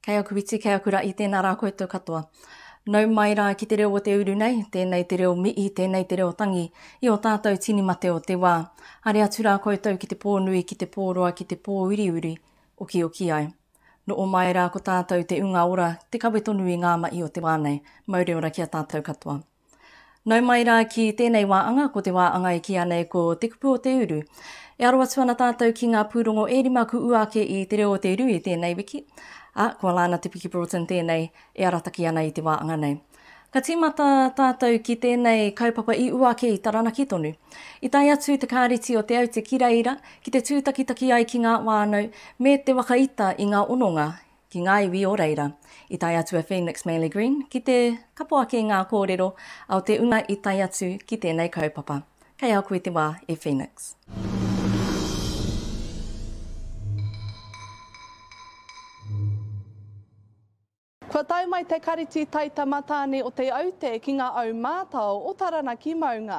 Kei aku iti, kei aku raʻi, tēnā rā koutou katoa. Nau mai rā ki te reo o te uru nei, tēnei te reo mihi, tēnei te reo tangi i o tātou tini mate o te wā. Haere atu rā koutou ki te pō nui, ki te pō roa, ki te pō uriuri, okioki ai. Noo mai rā ko tātou te unga ora, te kawe tonu i ngā mahi o te wā nei. Mauri ora ki a tātou katoa. Nau mai rā ki tēnei wā anga, ko te wā anga e kīa nei ko Te Kupu o te Uru. E aro atu ana tātou ki ngā pūrongo e rima ku ua ake i Te Reo o te Uru i tēnei wiki, ā, ko Alana Te Piki Broughton tēnei e arataki ana i te wā anga nei. Ka tīmata tātou ki tēnei kaupapa i ua ake i Taranaki tonu. I tae atu te Kāreti o Te Aute ki reira ki te tūtakitaki ai ki ngā whānau me te waka ita i ngā hononga ki ngā iwi o reira. I tae atu a Phoenix Manley Green ki te kapo ake i ngā kōrero a o te una i tae atu ki tēnei kaupapa. Kei a koe te wā e Phoenix. Kua tae mai te Kariti Taitamatāne o Te Aute ki ngā au mātao o Taranaki maunga.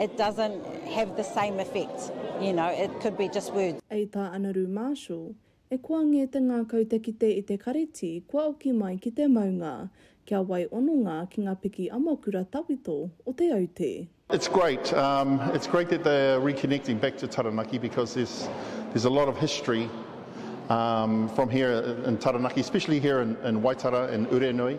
it doesn't have the same effect, you know, it could be just words. I tā Anaru Marshall, E koa ngē te ngākau te kite i te kareti kua oki mai ki te maunga, kia wai ononga ki ngā piki amakura tawhito o Te Aute. It's great, um, it's great that they are reconnecting back to Taranaki because there's, there's a lot of history um, from here in Taranaki, especially here in, in Waitara and Urenui.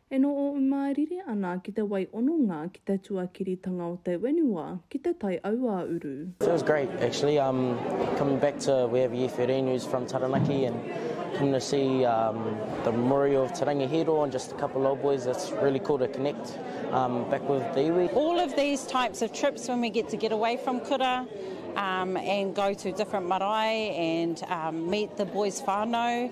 E no o u mārire ana ki te wai ononga ki te tuakiritanga o te wenua ki te tai auāuru. Feels great actually um coming back to we have Ie Wherene who's from Taranaki and coming to see um the memorial of Te Rangi Hīro and just a couple old boys it's really cool to connect um back with the iwi. All of these types of trips when we get to get away from kura um and go to different marae and um meet the boys whanau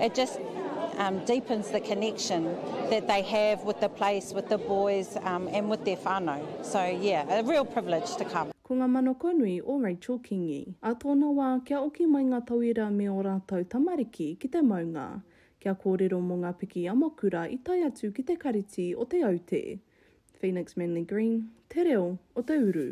It just um, deepens the connection that they have with the place, with the boys um, and with their whānau. So yeah, a real privilege to come. Ko ngā manakonui o Rachel Kingi. Ā tōna wā, kia oki mai ngā tauira me ō rātou tamariki ki te maunga, kia kōrero mō ngā piki amakura i tae atu ki te Kariti o Te Aute. Phoenix Manly Green, te reo o te uru.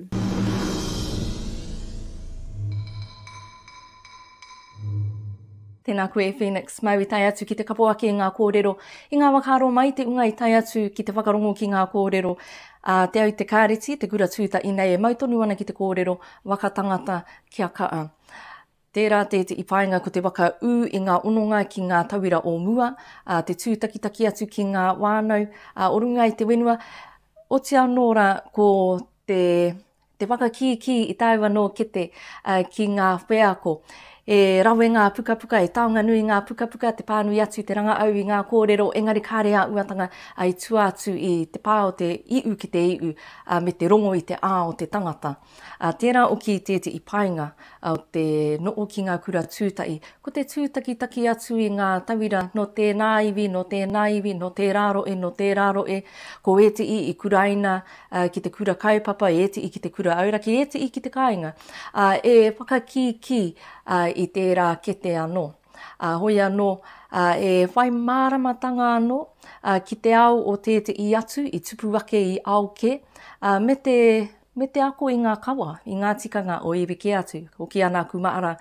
Tēnā koe Phoenix, mau i tae atu ki te kapo ake i ngā kōrero. I ngā waka aro mai te unga i tae atu ki te whakarongo ki ngā kōrero a Te Au Te Kāreti, Te Kura Tūta inei e mau tonu ana ki te kōrero waka tangata kia kaa. Tērā tētehi painga ko te waka ū i ngā ononga ki ngā tauira o mua, ā, te tūtakitaki atu ki ngā wānau ā, o runga i te whenua, oti anō rā ko te, te whakakīkī i tāua nō kete ā, ki ngā wheako. He rawe ngā pukapuka, he taonga nui ngā pukapuka, te pānui atu, te rangaau i ngā kōrero, engari kāre ā uatanga ā, i tua atu i te pā o te iu ki te iu ā, me te rongo i te ā o te tangata. Ā tērā oki tētehi painga o te noho ki ngā kura tūtahi, ko te tūtakitaki atu i ngā tauira nō tēnā iwi, nō tēnā iwi, nō tērā rohe, nō tērā rohe, ko ētehi i kuraina ki te kura kaupapa, ētehi ki te kura auraki, ētehi ki te kāinga, ā, e whakakīkī i tērā kete anō. Ā, hoi anō, ā, e whai māramatanga anō ki te ao o tētehi atu i tupu ake i ao kē, ā, me te me te ako i ngā kawa, i ngā tikanga o iwi kē atu. Hoki ana aku māra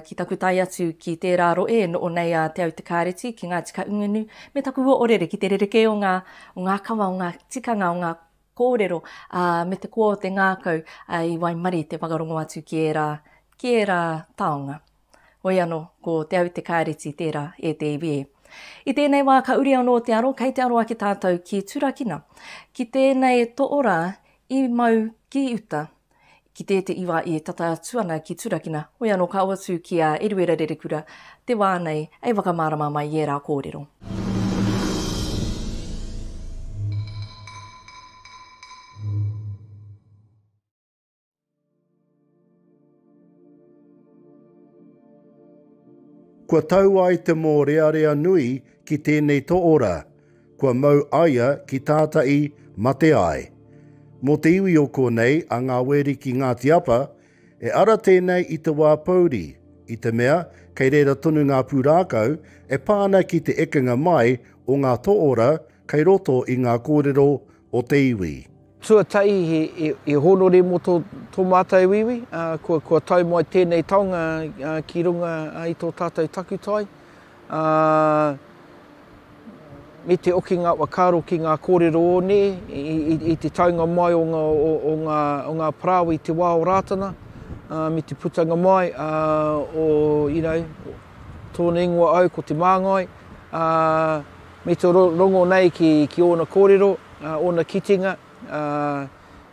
ki taku tae atu ki tērā rohe e noho nei a Te Autakāreti ki Ngāti Kahungunu me taku oorere ki te rerekē o ngā, o ngā kawa, o ngā tikanga, o ngā kōrero, ā, me te koa o te ngākau i waimarie te whakarongo atu ki ērā, ki ērā taonga. Hoi ano, ko Te Aute Kaereti tera e te iwi e. I tenei wa ka uri ano te aro, kei te aro ake tatou ki turakina, ki tenei too ra i mau ki uta, ki tetei wa i tata atu ana ki turakina, hoi ano ka uatu ki a Eruera Rerekura te wa nei e whakamarama mai i era korero. Kua tau ai te mōrearea nui ki tēnei toora, kua mau aia ki tātai mate ai. Mō te iwi o konei a Ngā Weri ki Ngāti Apa, e ara tēnei i te wā pouri, i te mea kei reira tonu ngā pūrākau e pā ana ki te ekenga mai o ngā toora kei roto i ngā kōrero o te iwi. Tuatahi he hōnore mō tō mātou iwi, kua tau mai tēnei taonga ki runga i tō tātou takutai, me te okinga whakaaro ki ngā kōrero o ne, i te taunga mai o ngā parāoa i te wā o Rātana, me te putanga mai o tōna ingoa au ko Te Māngai, Me te rongo nei ki ōna kōrero, ōna kitenga,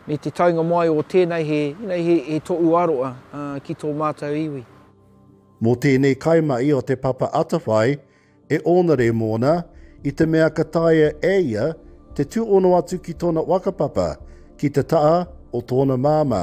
me te taunga mai o tēnei he toʻu aroa ki tō mātou iwi. Mō tēnei kaimahi o Te Papa Atawhai, e ōnare mōna, i te mea ka taea e ia te tūhono atu ki tōna whakapapa ki te taha o tōna māmā.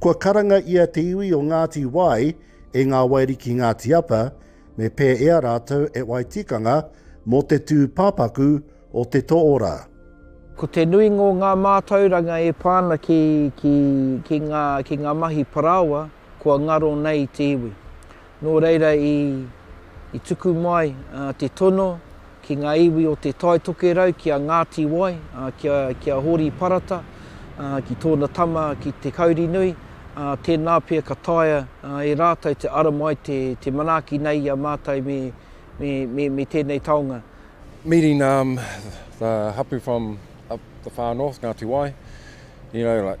Kua karanga i a te iwi o Ngāti Wai e Ngā Wairi ki Ngāti Apa, me pēea rātou e wai tikanga mō te tū pāpaku o te toora. Ko te nui ngō ngā mātauranga e pā ana ki ngā mahi parāoa kua ngaro nei te iwi. Nō reira i i tuku mai te tono ki ngā iwi o Te Tai Tokerau, ki a Ngāti Wai, ki a Hōri Parata, ki tōna tama ki Te Kaurinui, tēnā pea ka taea e rātou te ara mai te manaaki nei i a mātou me tēnei taonga. Meeting the hapu from up the far north, Ngāti Wai, you know like.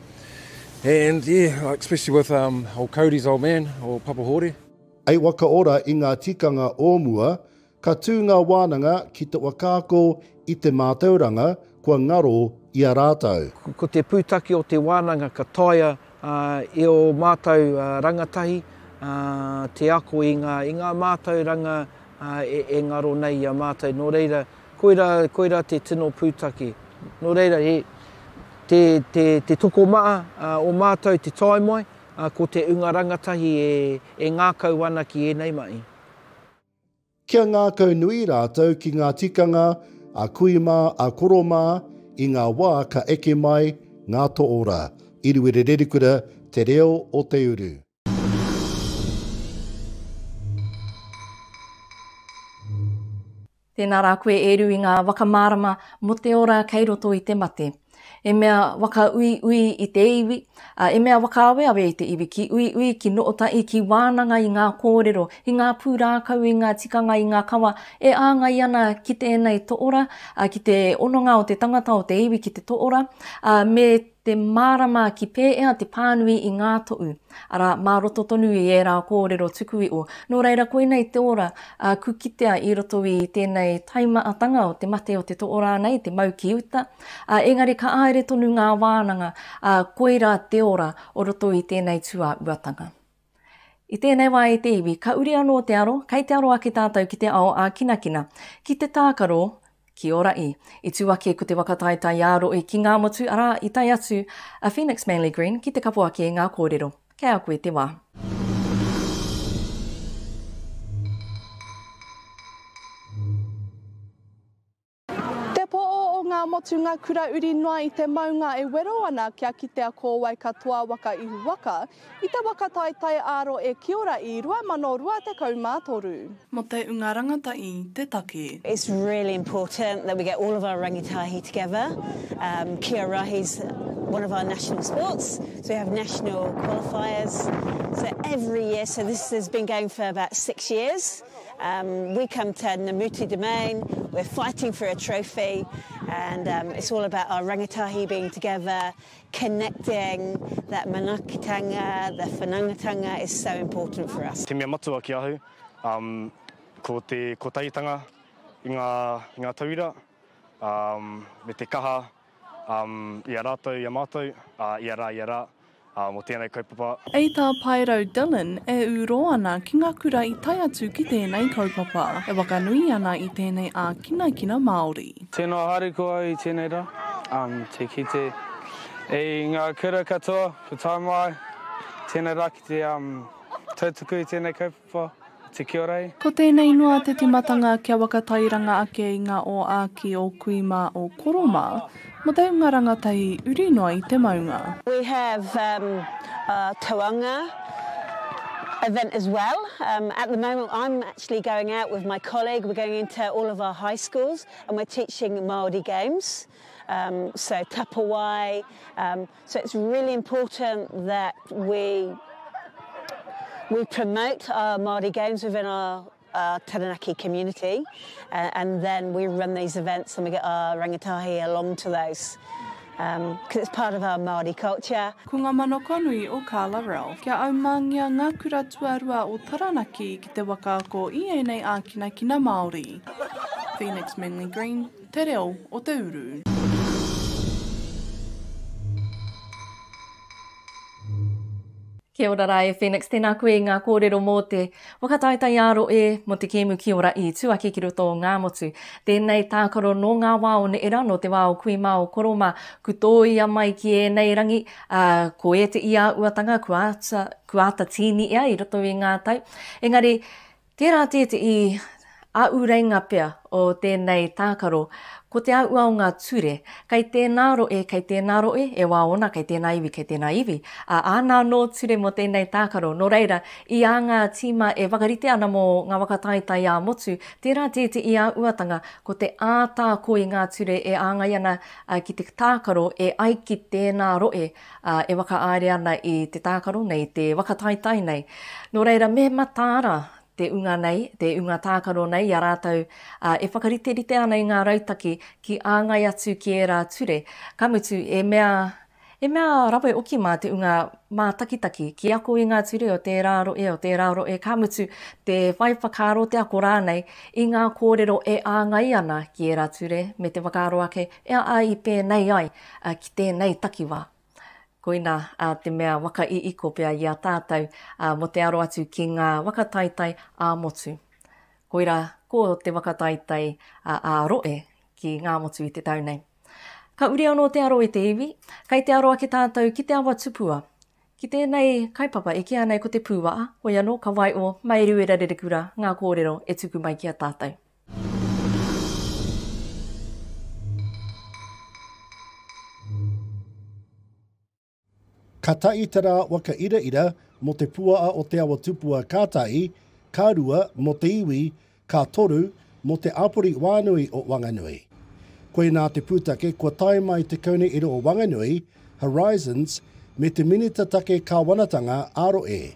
And yeah, like especially with um, old Cody's old man, or Papa Hore. I wakaora i ngā tikanga o mua, ka tū ngā wānanga ki te whakaako i te mātauranga kua ngaro i a rātou. Ko te pūtake o te wānanga ka taea e ō mātou rangatahi te ako i ngā mātauranga e ngaro nei i a mātou. Nō reira, Koira, koira te tino pūtake. Nō reira, he, te, te, te tokomaha ā, o mātou te tae mai, ā, ko te unga rangatahi e, e ngākau ana ki ēnei mahi. Kia ngākau nui rātou ki ngā tikanga a kui mā, a koro mā, i ngā wā ka eke mai ngā toora. Iruwere Rerikura, Te Reo o Te Uru. Tēnā rā koe e ru i ngā whakamārama mō te ora kei roto i te mate. E mea whakauiui i te iwi, ā, e mea whakaaweawe i te iwi ki uiui, ki nootaʻi, ki wānanga i ngā kōrero, i ngā pūrākau, i ngā tikanga, i ngā kawa e āngai ana ki tēnei toʻora, ā, ki te hononga o te tangata, o te iwi ki te toʻora, ā, me Te mārama ki pēea te pānui i ngā toʻu, arā, mā roto tonu i ērā kōrero tukuiʻo. Nō reira, koinei te ora a ku kitea i roto i tēnei taimaatanga o te mate o te toʻo rānei, te mau ki uta. A, engari ka āere tonu ngā wānanga, a, koira te ora o roto i tēnei tuauatanga. I tēnei wā e te iwi, ka uri anō te aro, kei te aro ake tātou ki te ao ā-kinakina, ki te tākaro, ki ō raʻi. I tū ake ko te waka taetae a Roʻi ki Ngāmotu, arā, i tae atu a Phoenix Manly Green ki te kapo ake i ngā kōrero. Kei a koe te wā. Te po o ngā motunga kura uri noa i te maunga e wero ana kia kitea ko wai katoa waka ihu waka, i te waka taetae āro e kiora i 2023. Mo te unga rangataI te take. It's really important that we get all of our rangitahi together, kia rahi's one of our national sports, so we have national qualifiers, so every year, so this has been going for about six years. Um, we come to Namuti Domain, we're fighting for a trophy, and um, it's all about our rangatahi being together, connecting, that manakitanga, the whanangatanga is so important for us. Te mea matua ki ahu, um, ko te kotahitanga i ngā, i ngā tauira, um, me te kaha um, i a rātou, i a mātou, uh, i a rā, i a rā. Ā, mō tēnei kaupapa. I tā Paerau Dillon e ūrō ana ki ngā kura i tae atu ki tēnei kaupapa, e whakanui ana i tēnei ākinakina Māori. Tino haere koa i tēnei rā, te kite i ngā kura katoa, ko tāu mā ai, tēnei rā ki te tautuku i tēnei kaupapa. Wha, te Kiorai. Ko tēnei noa te timatanga kia wakatairanga ake i nga o Aki, o Kui ma, o Koro ma, mo te unga rangatahi uri noa i te maunga. We have um uh tauanga event as well um at the moment I'm actually going out with my colleague we're going into all of our high schools and we're teaching Māori games um so tapawai um So it's really important that we we promote our Māori games within our our Taranaki community uh, and then we run these events and we get our rangatahi along to those um, because it's part of our Māori culture. Ko nga manakanui o Carla Ralph. Kia aumangia nga kura tuarua o Taranaki ki te wakaako i enei ākinakina Māori. Phoenix Manly Green. Te reo o te uru. Kia ora ra e Phoenix, tēnā koe i ngā kōrero mō te whakataetaiāro e, mō te kēmu Kia Ora i tū ake ki roto o Ngāmotu. Tēnei tākaro nō ngā wā o neera, nō te wā o kui mā, o koro mā, ku tōia mai ki ēnei rangi, ā, ko ēteʻi āuatanga kua āta, kua āta tīni ea i roto i ngā tau. Engari, Tērā tētehi āureinga pea o tēnei tākaro, ko te auua o ngā ture. Kei tēnā roe, kei tēnā roe, e wā ōna, kei tēnā iwi, kei tēnā iwi, ā, āna anō ture mō tēnei tākaro. Nō reira, i ā ngā tīma e whakarite ana mō ngā waka taetae ā-motu, tērā tētehi āuatanga, ko te ātaako i ngā ture e āngai ana ki te tākaro e ai ki tēnā roe, ā, e whakaāere ana i te tākaro nei, te whakataetae nei. Nō reira, me mataara te unga nei, te unga tākaro nei i a rātou, ā, e whakariterite ana i ngā rautaki ki āngai atu ki ērā ture, ka mutu, e mea, e mea rawe oki mā te unga mātakitaki ki ako i ngā ture o tērā rohe, o tērā rohe, ka mutu, te whai whakaaro, te ako rānei i ngā kōrero e āngai ana ki ērā ture, me te whakaaro ake, e a i pēnei ai. ki tēnei takiwā. Koina te mea waka i iko pea i a tātou mō te aro atu ki ngā waka taitai ā-motu. Koira ko te waka taitai ā-rohe ki Ngāmotu i te tau nei. Ka uri anō te aro i te iwi, kei te aro ake tātou ki te awa tupua. Ki tēnei kaupapa e kīa nei ko Te Pūwaha, hoi anō ka waio mai Rererekura ngā kōrero e tuku mai ki a tātou. Ka taʻi te rā waka iraira mō te puaa o Te Awa Tupua ka taʻi, ka rua mō te iwi, ka toru mō te āpori wānui o Wanganui. Koinā te pūtake kua tae mai te Kaunihera o Wanganui, Horizons, me te Minita Take Kāwanatanga, Aroe,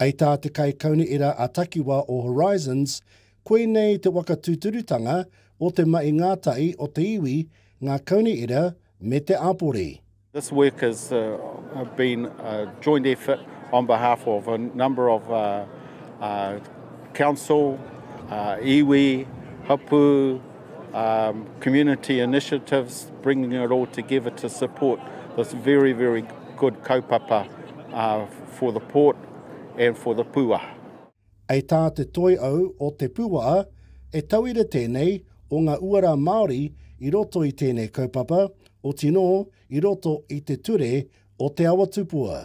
Hei tā te Kaikaunihera a Takiwa o Horizons, koinei te waka tūturutanga o te mahi ngātahi o te iwi, ngā kaunihera me te āpori. This work has been a joint effort on behalf of a number of council, iwi, hapū, um, community initiatives, bringing it all together to support this very, very good kaupapa uh, for the port and for the pua. Hei tā te toi au o Te Puwaha, he tauira tēnei o ngā uara Māori i roto i tēnei kaupapa, otinō i roto i te ture o Te Awa Tupua.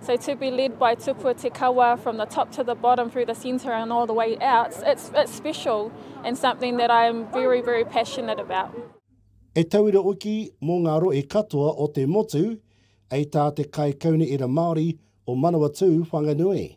So to be led by Tupua Te Kawa from the top to the bottom through the centre and all the way out, it's, it's special and something that I am very, very passionate about. E tauira hoki mō ngā rohe katoa o te motu, hei tā te Kaikaunihera Māori o Manawatū Whanganui.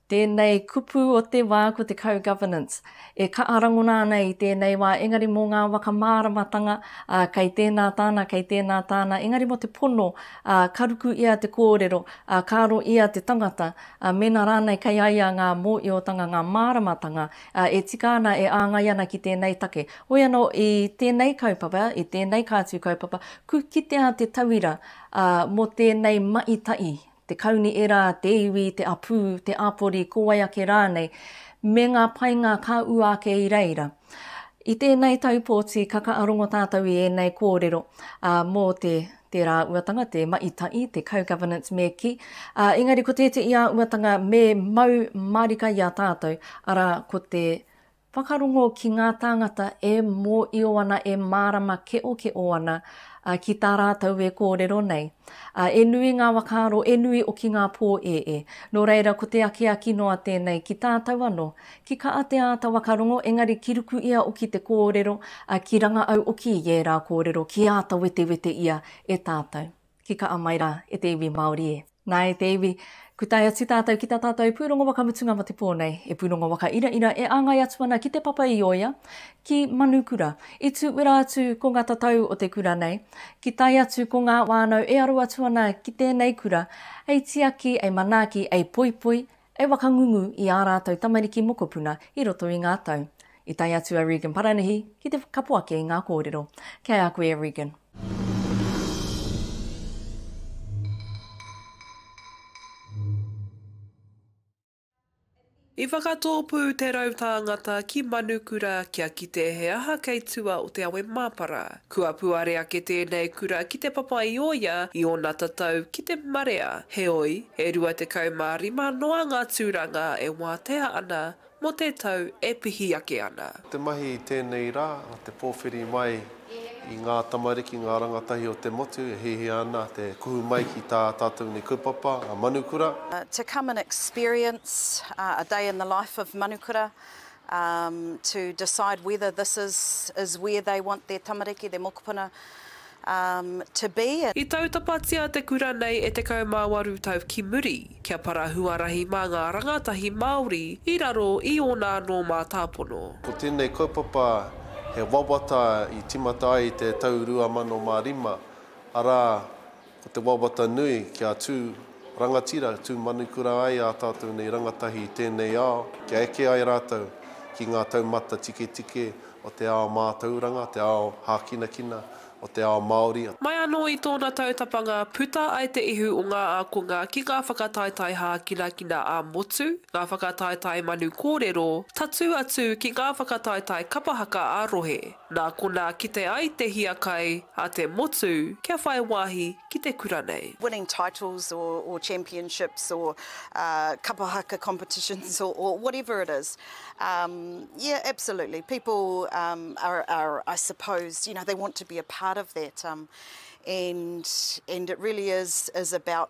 Tēnei kupu o te wā ko te co-governance, e kaha rangona ana i tēnei wā, engari mō ngā waka māramatanga, ā, kei tēnā tāna, kei tēnā tāna, engari mō te pono, ā, ka ruku ia te kōrero, ā, ka aro ia te tangata, ā, mēnā rānei kei a ia ngā mōiotanga, ngā māramatanga, ā, e tika ana, e āngai ana ki tēnei take. Hoi anō, i tēnei kaupapa, i tēnei kātū kaupapa, ku kitea te tauira, ā, mō tēnei mahi tahi, te kauni era, te iwi, te apū, te āpori, ko wai ake rānei, me ngā painga ka ua ake i reira. I tēnei taupōti ka kaarongo tātou i ēnei kōrero ā, mō te te rāuatanga, te maitai, te co-governance me kī, ā, engari ko tēteʻi āuatanga me mau mārika i a tātou, arā, ko te Whakarongo ki ngā tāngata e mōio ana, e mārama keokeō ana ki tā rātou e kōrero nei. E nui ngā whakaaro, e nui oki ngā pōēē. Nō reira, ko te akiaki noa tēnei ki tātou anō. Ki kaha te āta whakarongo, engari ki ruku ia oki te kōrero, ki ranga au oki i ērā kōrero, ki āta wetewete ia e tātou. Ki kaha mai rā e te iwi Māori e. Nā, e te iwi, ku tae atu tātou ki tā tātou pūrongo waka mutunga mō te pō nei, e pūrongo waka iraira e āngai atu ana ki Te Papa i Oia, ki Manukura. I tū wera atu ko ngā tatau o te kura nei, ki tae atu ko ngā wānau e aro atu ana ki tēnei kura, hei tiaki, hei manaaki, hei poipoi, e whakangungu i ā rātou tamariki mokopuna i roto i ngā tau. I tae atu a Regan Paranihi ki te whakapo ake i ngā kōrero. Kia ea koe e Regan. I whakatōpū te rau tāngata ki Manukura kia kite he aha kei tua o te awe māpara. Kua puare ake tēnei kura ki te papa i o ia i ōna tatau ki te marea, heoi, e 25 noa ngā tūranga e wātea ana mō te tau e pihi ake ana. Ko te mahi i tēnei rā, ko te pōwhiri mai i ngā tamariki, ngā rangatahi o te motu e hiahia ana te kuhu mai ki tā tātou nei kaupapa, a Manukura. To come and experience a day in the life of Manukura, to decide whether this is is where they want their tamariki, their mokopuna to be. I tautapatia te kura nei e 18 tau ki muri, kia para huarahi mā ngā rangatahi Māori i raro i ōna anō mātāpono. Ko tēnei kaupapa he wawata i tīmata ai i te tau 2005, arā, Ko te wawata nui kia tū rangatira, tū manukura ai ā tātou nei rangatahi i tēnei ao, kia eke ai rātou ki ngā taumata tiketike o te ao mātauranga, te ao hākinakina, o te ao Māori. Mai anō i tōna tautapanga, puta ai te ihu o ngā ākonga ki ngā whakataetae hākinakina ā-motu, ngā whakataetae manu kōrero, tatū atu ki ngā whakataetae kapa haka ā-rohe. Nā konā kite ai te hiakai a te motu kia whai wāhi ki te kura nei. winning titles or or championships or uh kapa haka competitions or or whatever it is um yeah absolutely people um are are I suppose you know they want to be a part of that um and and it really is is about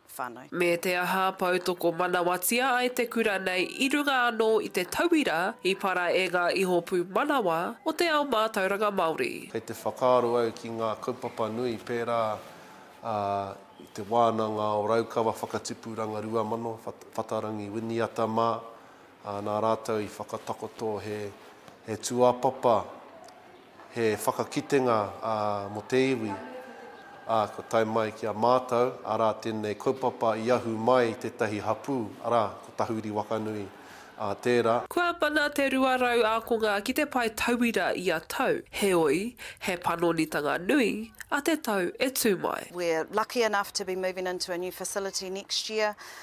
whānau. Me te aha, poutoko manawatia ai te kura nei i runga anō i te tauira i para e ngā iho pūmanawa o te ao mātauranga Māori. Kei te whakaaro au ki ngā kaupapa nui pērā i te wānanga o Raukawa Whakatipuranga 2000, Whatarangi Winiata mā, nā rātou i whakatakoto he tūāpapa, He whakakitenga mō te iwi, ā, kua tae mai ki a mātou, arā, tēnei kaupapa i ahu mai i tētahi hapū, arā, ko Tahuri Wakanui tērā. Kua mana te 200 ākonga ki te pae tauira ia tau, heoi, he panonitanga nui a te tau e tū mai. We're lucky enough to be moving into a new facility next year,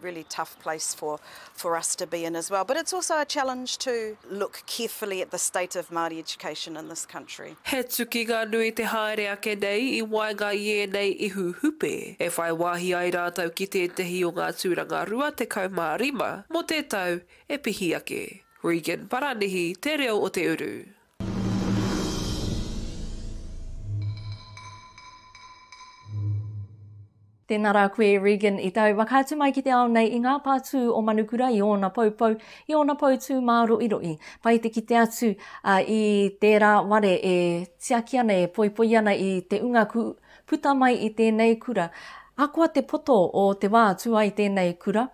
really tough place for for us to be in as well but it's also a challenge to look carefully at the state of Māori education in this country. He tukinga nui te haere ake nei i waenga i ēnei ihu hupe e whai wāhi ai rātou ki tētehi o ngā tūranga 25 mō te tau e pihi ake. Regan Paranihi, Te Reo o Te Uru. Tēnā rā koe, Regan, i tau whakaatu mai ki te ao nei i ngā pātū o Manukura i ōna poupou, i ōna poutū māroʻiroʻi. Pai te kite atu i tērā ware e tiaki ana, e poipoi ana i te unga kū puta mai i tēnei kura. Ahakoa te poto o te wā atu ai tēnei kura,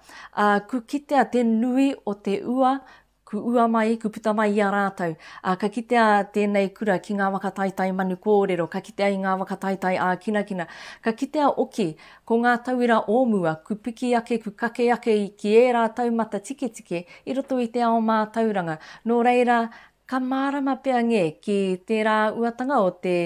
kū kitea te nui o te ua Ku ua mai, ku puta mai i a rātou, ā, ka kitea tēnei kura ki ngā waka taitai manu kōrero, ka kitea i ngā waka taitai ākinakina, ka kitea oki ko ngā tauira o mua, ku piki ake, ku kake ake ki ērā taumata tiketike i roto i te ao mātauranga. Nō reira, ka mārama pea ngē ki tērā uatanga o te.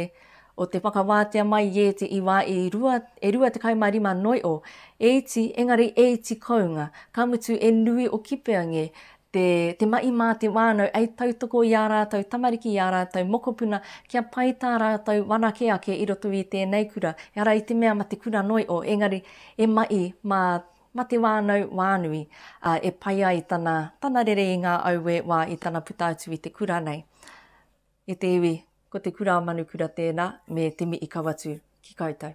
o te whakawātea mai i ēti i wā e rua, e rua tekau ma rima noiʻo, e iti, engari e iti kounga, ka mutu e nui o Kipeange te, te maʻi mā te wānau ei tautoko i ā rātou tamariki i ā rātou mokopuna kia pai tā rātou wanake ake i roto i tēnei kura, ehara i te mea ma te kura noiʻo, engari e maʻi mā, ma te wānau wānui, a, e pai ai tana, tana rere i ngā auē wā i tana puta atu i te kura nei. E te iwi, ko Te Kura a Manukura tēnā, me Te Miʻi-Kawatu, ki koutou.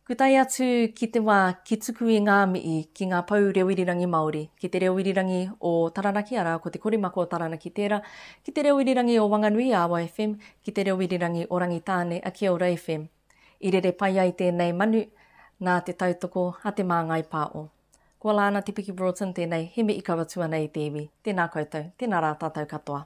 Ku tae atu ki te wa ki tuku i ngā miʻi ki ngā pou reo irirangi Māori, ki te reo irirangi o Taranaki, arā, ko Te Korimako o Taranaki tērā, ki te reo irirangi o Wanganui, Awa FM, ki te reo irirangi o Rangitāne, a Kia Ora FM. I rere pai ai tēnei manu nā te tautoko a Te Māngai Pāʻo. Ko Alana Te Piki Broughton tēnei, he Miʻi-Kawatu ana i te iwi. Tēnā koutou, tēnā rā tātou katoa.